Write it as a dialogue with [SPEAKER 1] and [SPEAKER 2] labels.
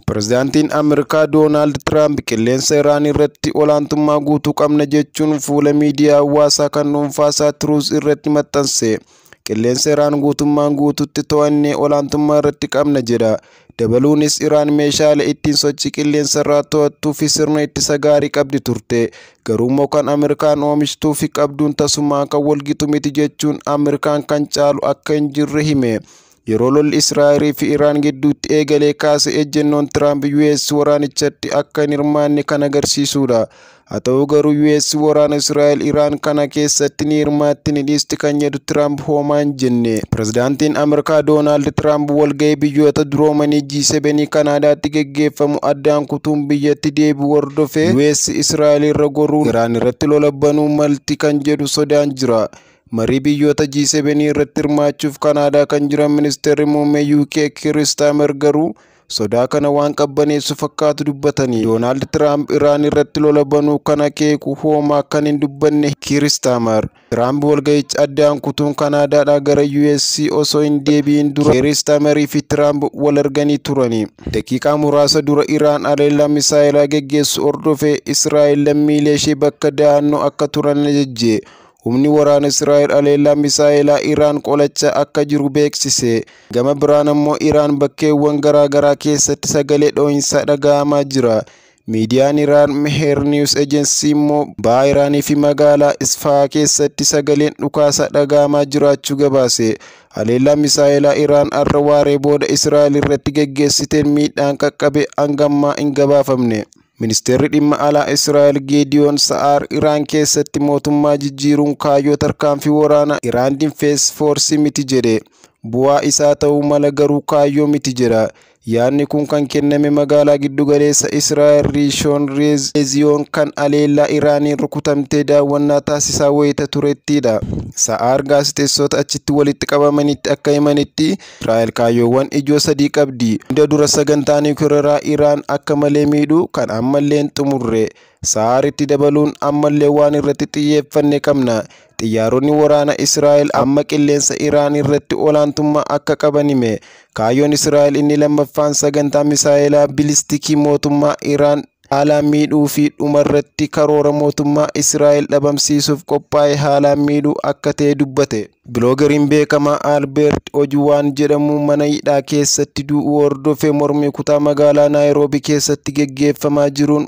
[SPEAKER 1] Pirezidaantiin Ameerikaa Doonaald Tiraamp qilleensa Iraan irratti olaantummaa guutuu qabna jechuun fuula miidiyaa hawaasaa kan dhuunfaasaa Tiruuz irratti maxxanse. Qilleensa Iraan guutummaan guututti to'annee olaantummaa irratti qabna jedha. Dabaluunis Iraan meeshaalee ittiin sochii qilleensa irraa to'attuu fi sirna ittisa gaarii qabdi turte. Garuu immoo kan Ameerikaan oomishtuu fi qabduun tasumaa kan walgitu miti jechuun Ameerikaan kan caalu akka hin jirre hime. Yeroo lolli Israa'el fi Iraan gidduutti eegalee kaase ejjennoon Tiraamp US waraanichatti akka hin hirmaanne kan agarsiisudha. Haa ta'u garuu US waraana Israa'el Iraan kana keessatti ni hirmaatti ni dhiisti kan jedhu Tiraamp hoomaa hin jenne. Pirezidaantiin Ameerikaa Doonaald Tiraamp walgahii biyyoota duroomanii G7 Kanaadaatti geggeeffamu addaan kutuun biyyatti deebi'u hordofee US Israa'el irra goruun Iraan irratti lola banuu malti kan jedhu sodaan jira. Marii biyyoota G7 irratti hirmaachuuf Kanaadaa kan jiran ministeerri muummee UK Kiir Istaamer garuu sodaa kana waan qabbaneessu fakkaatu dubbatanii Doonaald Tiraamp Iraan irratti lola banuu kana keeku hoomaa kan hin dubbanne Kiir Istaamer Tiraamp walga'icha addaan kutuun Kanaadaadhaa gara US osoo hin deebi'in dura Kiir Istaamerii fi Tiraamp wal arganii turani. Daqiiqaa muraasa dura Iraan haleellaa misaa'elaa geggeessu hordofee Israa'el lammiilee ishee bakka da'annoo akka turan ajajje. Humni waraana Israa'el haleellaa misaa'elaa Iraan qolachaa akka jiru beeksise. Gama biraan ammoo Iraan bakkeewwan garaa garaa keessatti sagalee dho'insaa dhaga'amaa jira. Miidiyaan Iraan Meher News Agency immoo baha Iraanii fi magaalaa Isfahaa keessatti sagaleen dhukaasaa dhaga'amaa jiraachuu gabaase. Haleellaa misaa'elaa Iraan har'a waaree booda Israa'el irratti geggeessiteen miidhaan qaqqabe hanga ammaa hin gabaafamne. Ministeerri dhimma alaa Israa'el Geediyoon Sa'aar Iraan keessatti mootummaa jijjiiruun kaayyoo tarkaanfii waraana Iraan Dinfees Foorsii miti jedhe. Bu'aa isaa ta'uu mala garuu kaayyoo miti jedha. Yaadni kun kan kenname magaalaa giddugaleessa Israa'el Riishoon Leeziyoon kan aleellaa Iraaniin rukutamtee daawwannaa taasisaa wayita turettidha. Sa'aar gaazexeessota achitti walitti qabamanitti akka himanitti Israa'el kaayyoowwan ijoo sadii qabdi. Hunda dura sagantaa niwukilaraa Iraan akka malee miidhuu kan ammallee hin xumurre. Sahaaritti dabaluun ammallee waan irratti xiyyeeffanne qabna. Xiyyaaronni waraana Israa'el amma qilleensa Iraan irratti olaantummaa akka qaban hime. Kaayyoon Israa'el inni lammaffaan sagantaa misaa'elaa bilistikii mootummaa Iraan Haalaan miidhuu fi dhumarratti karoora mootummaa Israa'el dhabamsiisuuf qophaa'e haalaan miidhuu akka ta'e dubbate. Biloogariin beekamaa Albeert Ojuwaan jedhamu mana hidhaa keessatti du'uu hordofee mormii kutaa magaalaa Naayiroobi keessatti geggeeffamaa jiruun